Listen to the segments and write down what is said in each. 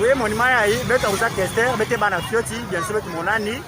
Oui, mon imaya hii beto kuza kester bete bana fioti bien sûr betu monani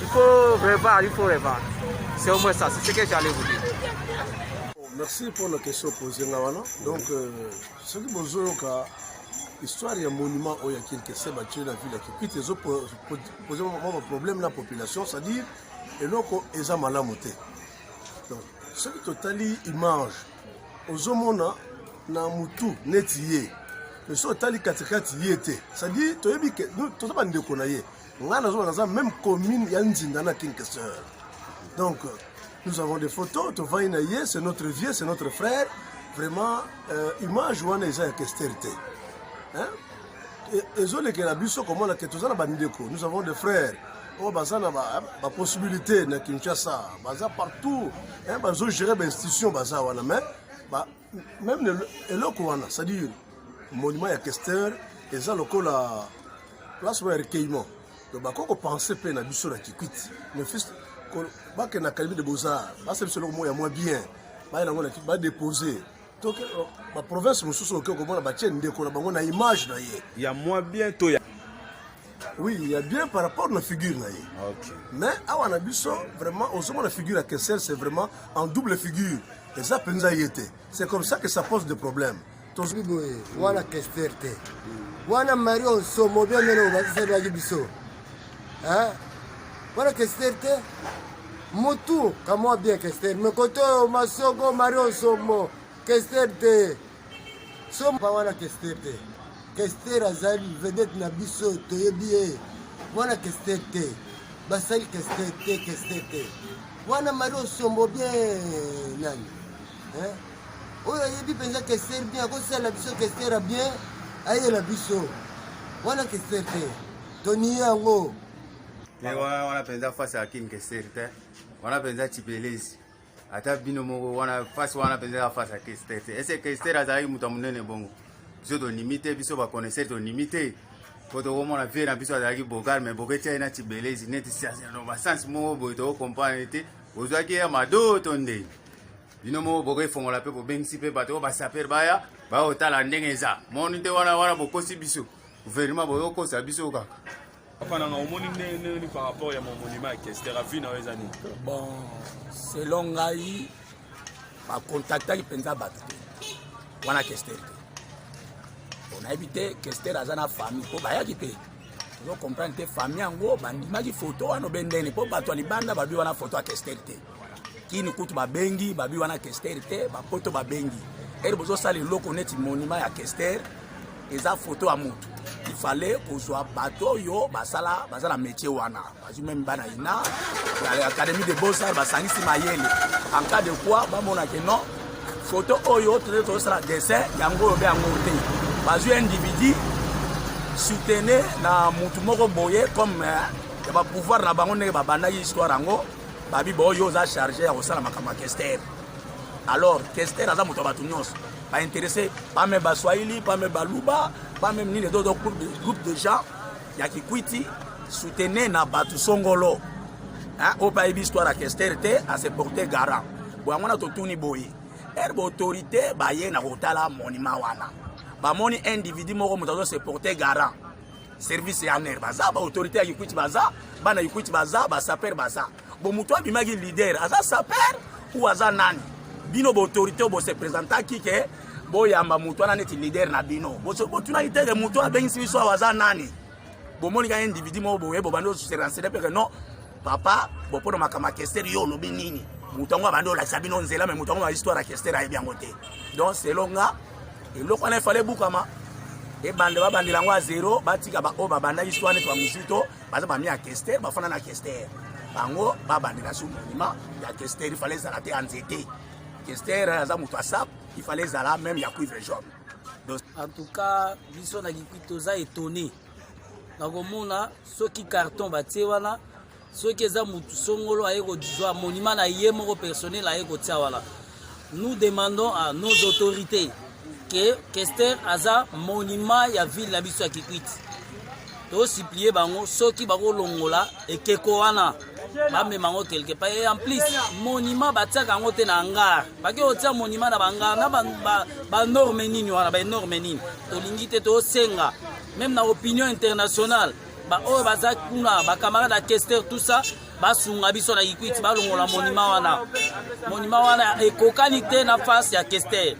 Il faut revoir, il faut revoir. C'est au moins ça, c'est ce que j'allais vous dire. Merci pour la question posée là wana. Donc euh, ce que bozoyoka histoire ya monument oyo ya Kinkese bati na ville ya Kikwit ezo poser mwa problème na population, c'est-à-dire eloko eza malamu te. Donc soki totali image ozomona na mutu neti ye mais soki otali katikati ye te c'est-à-dire toyebi toza bandeko na ye Nga nazo naza même commune ya Nzinda na King Kester. Donc nous avons des photos, to vai na ye, c'est notre vieux, c'est notre frère. Vraiment euh, image wana eza ya Kester te. Hein? ezolekela biso komona ke toza na bandeko nous avons des frères oyo oh, baza na bapossibilité na kinshasa baza partout bazogere bainstitution baza wana mais meme eloko wana c'est-à-dire monument ya Kester eza lokola place moko ya recueillement donc bakoki kopense mpe na biso na kikwiti mais fils bakenda académie de beaux-arts basala biso eloko moko ya mwa bien baye nango badepose toke oh, baprovince mosusu oke okomona batie ndeko na bango na image na ye ya mwa bien to ya Oui, il y a bien par rapport à la figure. Là. Okay. Mais à Wanabiso, vraiment, au sommet, la figure à Kessel, c'est vraiment en double figure. Et ça, Penza y était. C'est comme ça que ça pose des problèmes. Tozwi boye wana kester te wana mari osomo bia mene obakiselaki biso wana kester te mutu kamwa bien kester me kote oyo masoko mari osomo Kester te. So mwana Kester te. Kester azali vedette na biso toyebi ye. Mwana Kester te. Basali Kester te, Kester te. Mwana Marie Osombo bien nani? Hein? Oyo ayebi mpenza Kester bien akosala biso Kester ya bien ayela biso. Mwana Kester te. Toniye yango. Te wana wana mpenza face ya King Kester te. Wana mpenza Chipelezi. ata bino moko wana face wana mpenza ya face ya kester te ese kester azalaki moto ya monene bongo biso tondimi te biso baconnaisseur tondimi te mpo tokomona vie na biso azalaki bogal mai boketi ye na tibelezi neti no basense moko boye tokokomprendre te ozwaki ye ya mado to ndenge bino moko bokoefongola mpe bobengisi mpe bato oyo basaper baya baotala ndenge eza moni te wana wana bokosi biso guvernema boyokosa biso kaka Papa nanga omoni ndenge nini par rapport ya momonima ya kester avi na yo eza nini bon selon ngai bakontaktaki mpenza bato te wana kester te onayebi te kester aza na famille mpo bayaki mpe ozo comprendre te famille yango bandimaki foto wana obe ndene mpo bato ya libanda babi wana foto ya kester te kini kutu babengi babi wana kester te bapoto babengi ere bozosala eloko neti monima ya kester eza foto ya motu ifale kozwa bato oyo basala baza na métier wana bazwi meme bana ina ya académie de beaux arts basangisi mayele en cas de quoi bamona ke non foto oyo toza tozosala dessin yango oyo mpe yango te bazwi individu soutene na motu moko boye comme eh, ya bapouvoir na bango ndenge babandaki histoire yango Babi bo yo oza charge ya kosala makambo ya Kester. Alors Kester aza moto ya bato nyonso ba intéressé pas même ba Swahili, pas même ba Luba, pas même nini d'autres groupes de groupes de gens ya Kikwiti soutenez na bato songolo. Hein, au pays histoire ya Kester te à se porter garant. Bo yango na totuni boye. Er ba autorité baye na kotala monima wana. Bamoni individu moko moto azo se porter garant. service ya aner baza ba autorité ya kikwiti baza bana kikwiti baza ba saper baza bo moto abimaki leader aza saper ou aza nani bino ba autorité bo se présentaki ke boyamba moto wana neti leader na bino botunaki teke moto abengisi biso awa aza nani bomoni kaka individu moko boye bobandi oserensene mpe ke non papa bopona makambo ya kester yo olobi nini moto yango abandi olakisa bino nzela me moto yango na histoire ya kester ayebi yango te donc selon nga eloko wana efale ebukama ebanda babandela yango ya zero batika baoyo babandaki swa neti bamuzito baza bami ya kester bafanda na kester bango babandela su monima ya kester ifale ezala te ya nzete kester aza moto ya sap ifale ezala meme ya cuivre jaune en tout cas biso na likui toza etone nakomona soki carton batie wana soki eza mutu songolo aye kozwa monima na ye moko personnel aye kotia wana nous demandons à nos autorités que kester aza monima ya ville na biso ya kikwiti tosiplie bango soki bakolongola ekeko wana bamema yango quelque part et en plus monima batiaka yango te na hangar bake kotia monima na bangar na banorme nini wana baenorme nini tolingi te tosenga meme na opinion internationale ba oyo baza kuna ba camarade ya kester tout ça basunga biso na ikwiti balongola monima wana monima wana ekokani te na face ya kester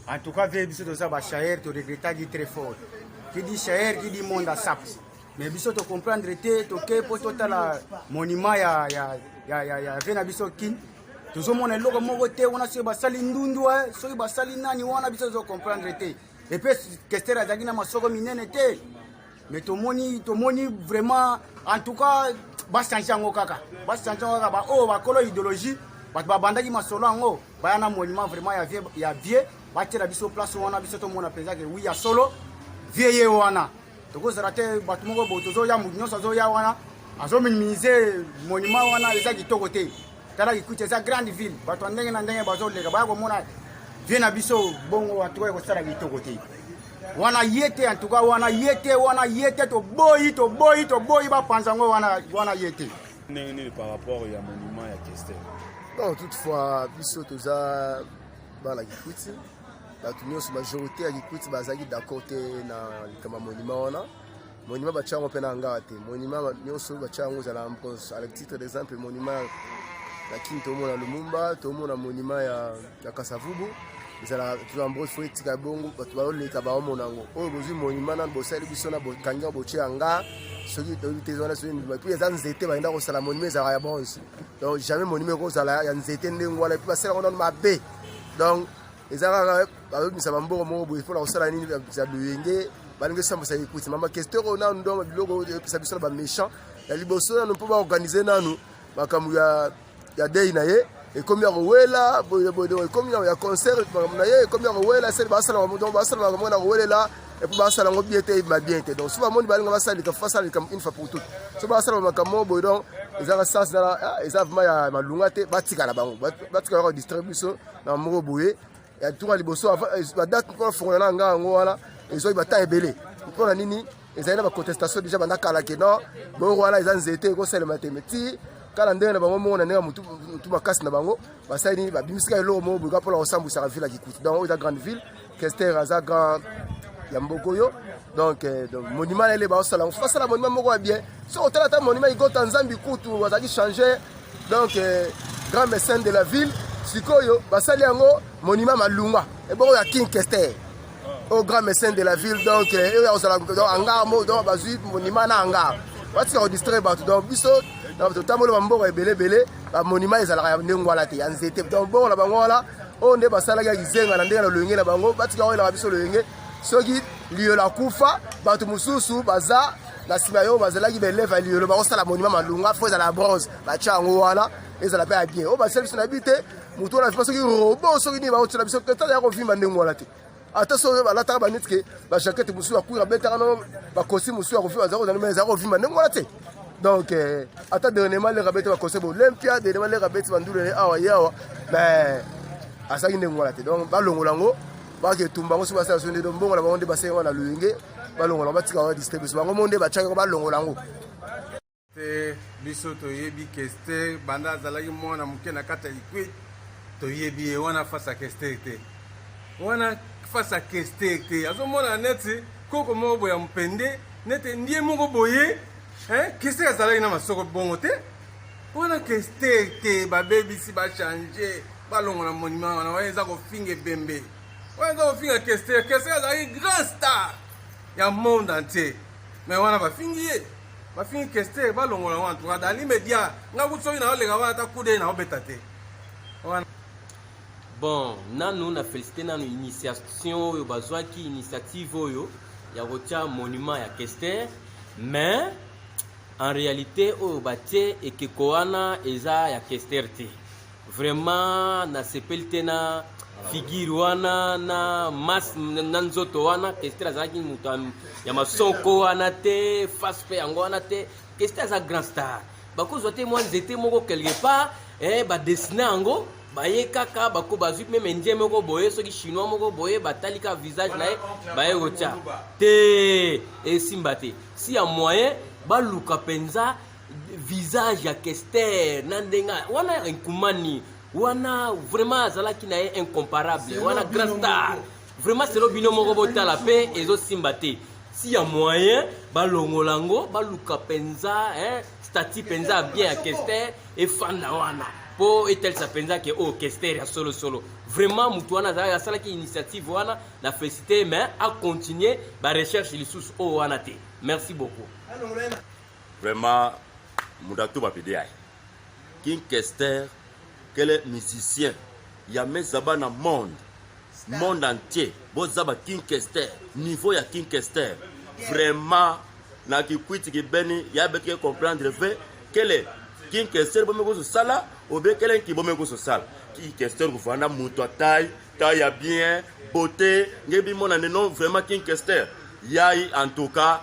en tout cas vie biso toza ba shaer to regrettaki très fort qui dit shaer qui dit monde asap mais biso to comprendre te toke mpo totala monima ya, ya, ya, ya, ya vie na biso kin tozomona eloko moko te wana soki basali ndundu eh, soki basali nani wana biso tozo comprendre te epe kester azalaki na masoko minene te mais tomoni tomoni vraiment en tout cas bachange yango kaka bachange yango kaka baoyo oh, bakolo idéologie bato babandaki masolo yango baya na monument vraiment ya vie ya vie batiela biso place wana biso tomona mpenza ke wi ya solo vie ye wana tokozala te bato moko bo tozoya moto nyonso azoya wana azominimize monument wana eza kitoko te tala kikuti eza grande ville bato ya ndenge na ndenge bazoleka baya komona vie na biso bongo antuka ekosala kitoko te wana ye te antuka wana ye te wana ye te toboyi toboyi toboyi bapanza yango wana wana ye te ndenge nini par rapport ya monument ya kester bon toutefois biso toza bana kikuti bato nyonso majorité ya kikuti bazalaki d'accord te na likambo ya monument wana monument batya yango mpe na hangar te monument nyonso batya yango ezala à titre d'exemple monument na kin tomona lumumba tomona monument ya, ya kasavubu ezala tuambos fo etika bongo bato baoleka baomona yango oyo bozwi monument nano bosali biso na bokangi yango botye hangar soki toyebi te wana soki ndima puis eza nzete bayenda kosala monument ezalaka ya bronze donc jamais monument ekozala ya nzete ndenge wana puis basalaka nano mabe donc eza kaka babimisa bambongo moko boye mpona kosala nini ya loyenge balingi osambwisa ekuti mama kesteur oyo nanu ndongo biloko oyo epesa biso na baméchant ya liboso nanu mpo baorganize nanu makambo ya dei na ye ekomi ya kowela ekomi ya concert makambo na ye ekomi ya kowela esali basala makambo basala makambo na kowelela epuis basala yango bien te ebima bien te donc so bamoni balinga basala likambo basala likambo une fois pour toute so basala makambo boye donc ezaka sens eza vraiment ya malunga te batikala bango batikala kodistraire biso na moko boye ya tour ya liboso eh, badate mpo nafongola na ngai yango wana ezwaki bata ebele mpo na nini ezali na bacontestation deja banda kala ke non bongo wana eza nzete ekosalema te meti kala ndenge na bango moko na ndenge ya motu makasi na bango basali nini babimisika eloko moko boyeka mpona kosambwisaka ville ya kikuti donc oyo eza grande ville Kester aza grand ya mboko yo donc euh, donc monument na ye baosala mosusu basala monument moko ya bien soki otala ata monument igota nzambi kutu azalaki changer donc euh, grand mécène de la ville sikoyo basali yango monument malunga ebongo ya king kester au oh, grand mécène de la ville donc euh, oyo akozala hangar mo donc bazwi monument na hangar batika kodistraire bato donc biso totamboli bamboka ebele ebele bamonima ezalaka ya ndenge wana te ya nzete donc bongo na bango wana oyo nde basalaki ya kizenga na ndenge na loyenge na bango batika oyelaka biso loyenge soki liyola kufa bato mosusu baza na nsima ya oyo bazalaki baeleve ya liyolo bakosala monima malunga fo ezala ya bronze batya yango wana ezala mpe ya bien oyo basala biso na bi te motu wana vima soki robo soki nini bakotyela biso te tala ya kovimba ndenge wana te ata soki balataka baneti ke bajakete mosusu ya kuira abetaka no bakosi mosusu ya kovima azala kozala ezala kovima ndenge wana te donc euh, ata dernièrement leka abeti bakosi bolympia dernièrement leka abeti bandulu ye awa ye awa mais asalaki ndenge wana te donc balongola yango baka etumba yango soki basala so nde mbongo na bango nde basenga na loyenge balongola yango batika yango distribution bango mo nde batiaka yango balongola yango te biso toyebi kester banda azalaki mwana moke na kati ya liquid toyebi ye wana fasa kester te wana fasa kester te azomona neti koko moko boye ya mopende nete ndie moko boye kester azalaki na masoko bongo te wana kester te babebisi bachange balongola monima wana wana eza kofinga ebembe wana eza kofinga kester kester azalaki grand star ya monde entier me wana bafingi ye bafingi kester balongola wana tuka dans l'immédiat nga kutu soki naoleka wana ata kude naobeta te wana bon nanu na félicité nanu initiation oyo bazwaki initiative oyo ya kotya monument ya kester mais en réalité oyo batie ekeko wana eza ya kester te Vraiment na sepeli te na figure wana na mas na nzoto wana Kester azalaki moto ya masoko wana te face pe yango wana te Kester aza grand star bakozwa te mwa nzete moko quelque part eh, badesine yango baye kaka bako bazwi meme indien moko boye soki chinois moko boye batali kaka visage na ye baye kotya te esimba te si ya moyen baluka mpenza visage ya kester na ndenge wana nkumani wana vraiment azalaki na ye incomparable wana grand star vraiment selo bino moko botala mpe ezosimba te si ya moyen balongola yango baluka mpenza stati mpenza ya bien ya kester efanda wana mpo etalisa mpenza ke oyo oh, kester ya solosolo vraiment motu wana azalaki asalaki initiative wana na félicité mais acontinue barecherche lisusu oyo oh, wana te merci beaucoup Vraiment, Moudatu Bapediaï. King Kester, quel est musicien Il y a mes abats dans le monde. Star. Monde entier. Bozaba King Kester. Niveau ya King Kester. Yeah. Vraiment, na kikwiti kibeni, ya betike comprendre ve, quel est King Kester bombe kusu sala, ou bien quel est qui bombe kusu sala. King Kester kufanda mutu taille, taille ya bien, beauté, ngebi mona non vraiment King Kester. Yai en tout cas,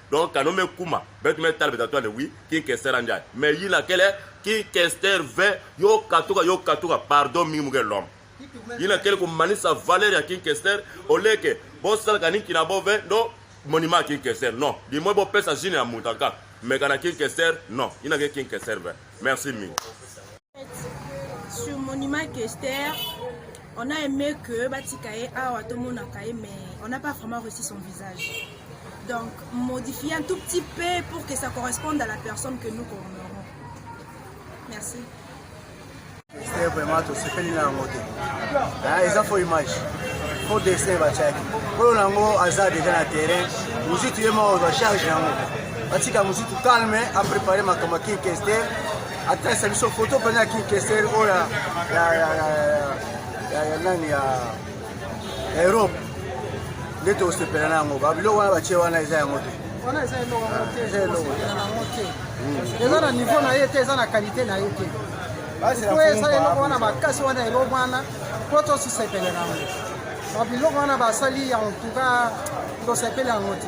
donc kano me kuma betu me tala betatu ale wi king kester anjai me yina kele king kester ve yo katuka yo katuka pardon mingi muke lom yina kele ko manisa valeur ya king kester oleke bosala kani kina bo ve ndo monima ya king kester non limwe bopesa jine ya mutu aka mekana king kester non yina ke king kester ve merci mingi sur monument kester on a aimé que batika ye awa tomonaka ye mais on n'a pas vraiment reçu son visage donc modifier un tout petit peu pour que ça corresponde à la personne que nous commémorons merci kester vraiment tosepeli na yango te eza fo image fo dessin batiaki oyo na yango aza deja na terrain mozitu ye moko ozwa charge yango batika mozitu calme aprépare makambo ya kinkester Atresa biso foto mpena ya kinkeseri oyo ya nani ya europe nde tokosepela na yango babiloko wana batie wana eza yango te wana eza eloko yango te eza eloko yango te eza na niveau na ye te eza na kalite na ye te po eza eloko wana makasi wana eloko wana po tosisepele na yango babiloko wana basali yango tuka tosepele yango te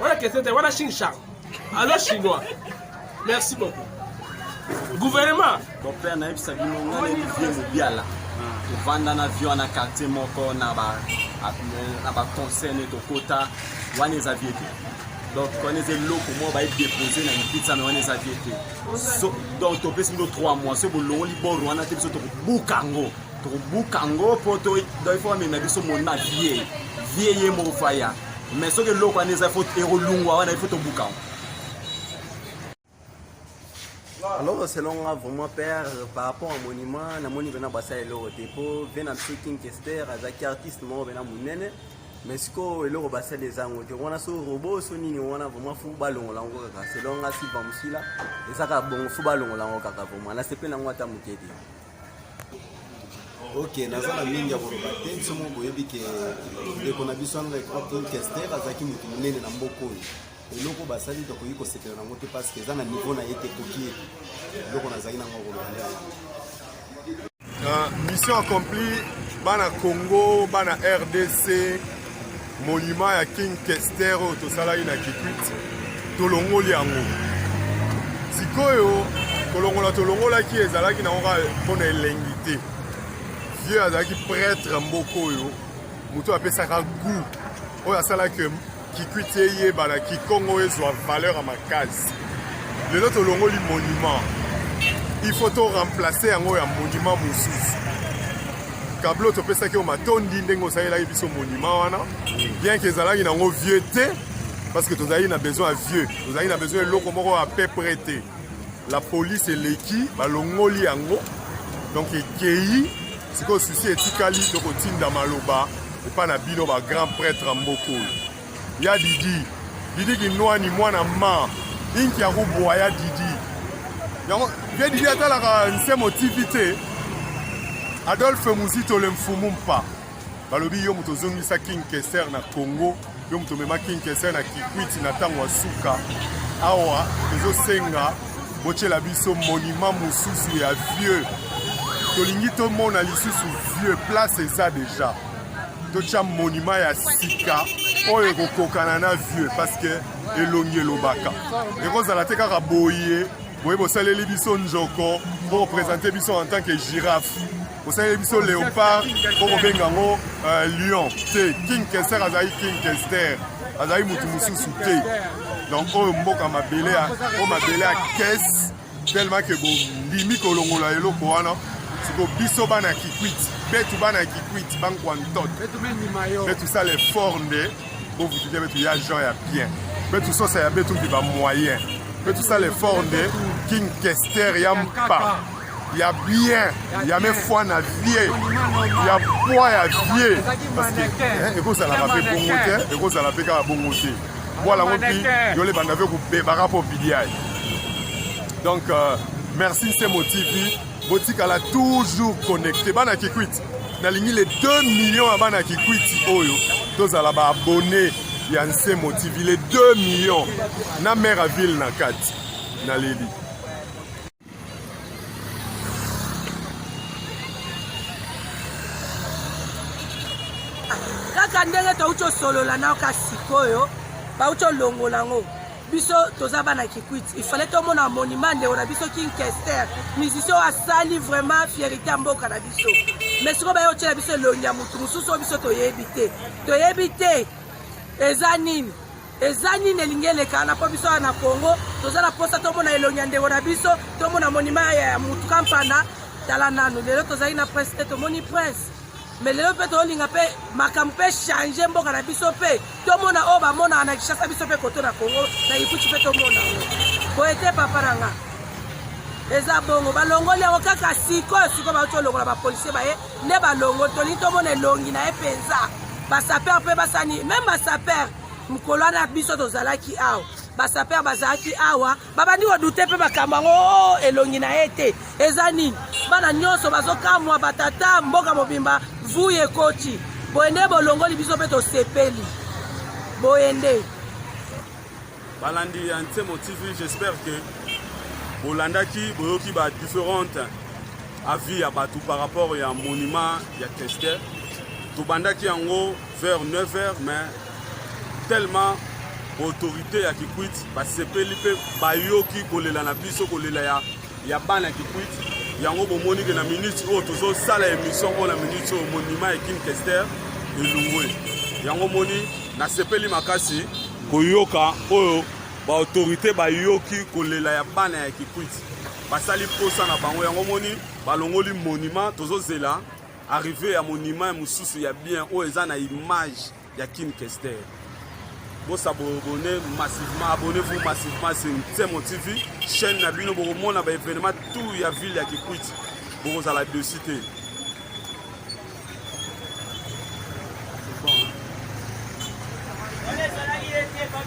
wana question te wana chine char alo chinois merci beaucoup gouvernement mon père nayebisa bino nga nayebi vie mobiala tovanda na vie wana quartier moko na ba na baconseil ne tokota wana eza vie te donc wana eza eloko moko baye depose na lipitsa me wana eza vie te donc topesi bino 3 mois soki bolongoli bor wana te biso tokobuka yango tokobuka yango mpo il faut bamema biso mona vie vie ye moko faya mais soki eloko wana eza faut ekolungwa wana ifo tobuka alors selon nga vraiment père par rapport à monument namoni mpena basala eloko te mpo vie na biso king kester azalaki artiste moko mpena monene mais sikoyo eloko basali eza yango te wana so robo so nini wana vraiment fu balongola yango kaka selon nga silva mosila eza kaka bongo fu balongola yango kaka vraiment nasepeli yango ata moke te ok naza na mingi ya koloba te biso moko boyebi ke ndeko na biso anglais cropton kester azalaki moto monene na mboka oyo eloko basali tokoki kosepela nango te parce que eza na niveau na ye te ekoki ye eloko nazalaki nango ya koloba nde mission accompli bana congo bana rdc monument ya king kester oyo tosalaki na kikwit tolongoli yango sikoyo kolongola tolongolaki ezalaki nango kaka mpo na elengi te vieux azalaki pretre mboka oyo moto apesaka gout oyo asalaki kikwit eyebana kikongo ezwa valeur ya makasi lelo tolongoli monument il faut to remplacer yango ya monument mosusu Kablo topesaki yo matondi ndenge osalelaki biso monument wana bien ke ezalaki nango vieux te parce que tozalaki na besoin ya vieux tozalaki na besoin eloko moko ya peu près te la police eleki balongoli yango donc ekei sikoyo susi etikali tokotinda maloba epai na bino bagrand prêtre mbokolo ya didi didi kinwani mwana ma inki ya kobwa ya didi yango ye didi atalaka nsemo tv te adolphe muzito le mfumu mpa balobi yo moto ozongisa king kester na congo yo moto omema king kester na kikwiti na ntango ya suka awa tozosenga botyela biso monima mosusu ya vieux tolingi tomona lisusu vieux place eza deja totya monima ya sika oyo ekokokana na vieux parceke elongi elobaka ekozala te kaka boye boye bosaleli biso njoko mpo opresente biso en tant que giraffe bosaleli biso léopard mpo kobenga yango euh, lion te king kester azali king kester azali motu mosusu te donc oyo mboka mabele o mabele ya kese tellement que bondimi kolongola eloko wana siko biso bana ya kikwiti betu bana ya kikwiti bankwa ntot betu sala effort nde bovutike betu ya jean ya bien betu sosa ya betu mpe bamoyen betu sala effort nde king kester ya mpa ya bien ya mefwa na vie ya pwa ya vie parce que ekozalaka mpe bongo te ekozala mpe kaka bongo te Voilà, mon petit, je l'ai bandé avec vous, Bébara pour PDI. Donc, euh, merci, c'est mon TV. botikala toujours connecté bana kikwiti nalingi le 2 million ya bana kikwiti oyo tozala baabonne ya nsemo tv le 2 million na mare ya ville na kati naleli kaka ndenge touti osolola nao ka sikoyo bauti olongola yango biso toza bana kikwiti ifale tomona monima ndeko na biso king kester musicien oyo asali vraiment fierité ya mboka na biso mais sikoyo baye otyela biso elongi ya motu mosusu oyo biso toyebi te toyebi te eza nini Eza nini elingi elekana mpo biso awa na Congo toza na mposa tomona elongi ya ndeko na biso, tomona monima ya mutu kampana. Tala nanu lelo tozali na prince te, tomoni prince me lelo mpe tolinga mpe makambo mpe change mboka na biso mpe tomona oyo bamonaka na Kinshasa biso mpe koto na Congo na Ikuti mpe tomona yango boye te papa na nga eza bongo balongoli yango kaka sikoyo sikoyo bauti olongola bapolisie baye nde balongo tolingi tomona elongi na ye mpenza basaper mpe basani meme basaper mokolo wana biso tozalaki awa basaper bazalaki awa babandi kodute mpe makambo yango oh, oh, elongi na ye te eza nini bana nyonso bazokamwa batata mboka mobimba vuye ekoti boye nde bolongoli biso mpe tosepeli boye nde balandi ya nsemo tv j'espère que bolandaki boyoki ba différentes avis ya bato par rapport ya monument ya kester tobandaki yango vers 9 heures mais tellement autorité ya kikwit basepeli mpe bayoki kolela na biso kolela ya, ya bana ya kikwit yango bomoni ke na minute oyo tozosala émission oyo na minute oyo monima ya kim kester elungwe yango moni nasepeli makasi koyoka oyo baautorité bayoki kolela ya bana ya kikwit basali mposa na bango yango moni balongoli monima tozozela Arrivee ya monument mosusu ya bien oyo eza na image ya Kin Kester. Bosa boabonne massivement, abonnez-vous massivement sur Nsemo TV, chaîne na bino bokomona ba événement tout ya ville ya Kikwiti. Bokozala dessus te.